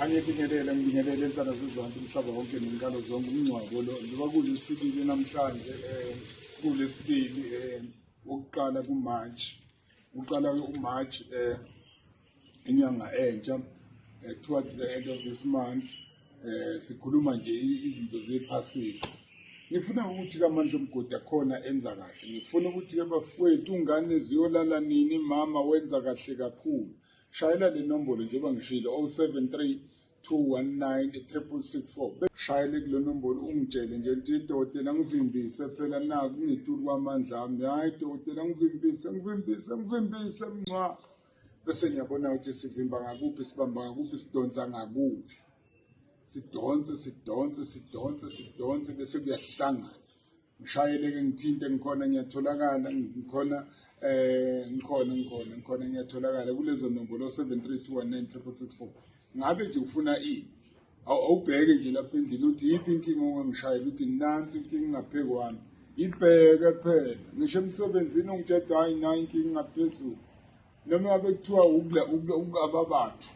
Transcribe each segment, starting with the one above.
angibingelele ngibingelele intana zizansi umhlaba wonke nenkalo zonke umngcwabo lo njengoba kulesibili namhlanje um kulesibili um wokuqala kumarch uqala umarch um inyanga entsha eh, towards the end of this month um sikhuluma nje izinto zephasika ngifuna ukuthi kamandla omgodi akhona enza kahle ngifuna ukuthi ke bafowethu ungane ziyolala nini mama wenza kahle kakhulu Shayela le nombolo njengoba ngishilo 073 219 shayele kule nombolo ungitshele nje ukuthi dokotela ngivimbise phela naku ngitulu kwamandla ami hhayi dokotela ngivimbise ngivimbise ngivimbise mncwa bese ngiyabona ukuthi sivimba ngakuphi sibamba ngakuphi sidonsa ngakuphi sidonse sidonse sidonse sidonse bese kuyahlangana ngishayeleke ngithinte ngikhona ngiyatholakala ngikhona eh ngikhona ngikhona ngikhona ngiyatholakala kulezo nombolo 732196664 ngabe nje ufuna ini awubheke nje lapha endlini uthi yiphi inkinga ongangishayela uthi nansi inkinga ingaphezu kwami ibheke phela ngisho emsebenzini ungitsheda hayi nayi inkinga ingaphezulu noma ngabe kuthiwa ukula ukula ukaba bathu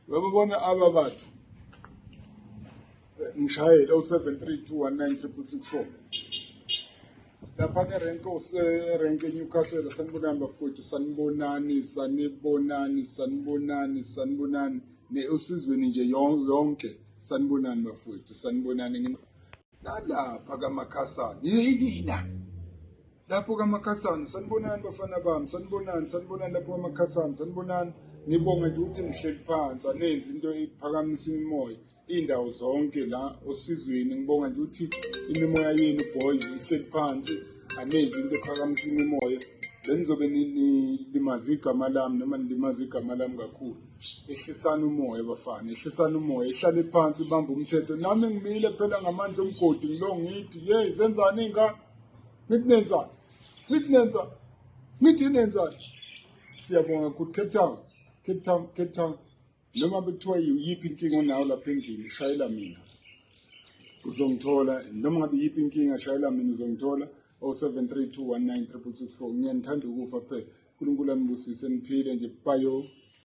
babona aba bathu eh, ngishayele u-732196664 lapha nerenke userenke eNewcastle sanibonani bafowethu sanibonani sanibonani sanibonani sanibonani ne usizweni nje yonke sanibonani bafowethu sanibonani nalapha kamakhasana yinina lapho kamakhasana sanibonani bafana bami sanibonani sanibonani lapho kamakhasana sanibonani ngibonga nje ukuthi ngihleli phansi anenzi into iphakamisa imimoya iy'ndawo zonke la osizweni ngibonga nje ukuthi imimoya yenu boys ihleli phansi anenzi into ephakamisa imimoya benizobe nilimaza igama lami noma nilimaza igama lami kakhulu ehlisani umoya bafana ehlisani umoya ihlale phansi ibambe umthetho nami ngimile phela ngamandla omgodi ngilo ngithi ye zenzani ingane ngithi nenzani ngithi nenzani ngithi nenzani siyabonga good cape town cape town cape town noma bekuthiwa yiyiphi inkinga onayo lapha endlini shayela mina uzongithola noma ngabe yiyiphi inkinga shayela mina uzongithola 0732196664 ngiyanithanda ukufa kuphela unkulunkulu anibusise niphile nje bayo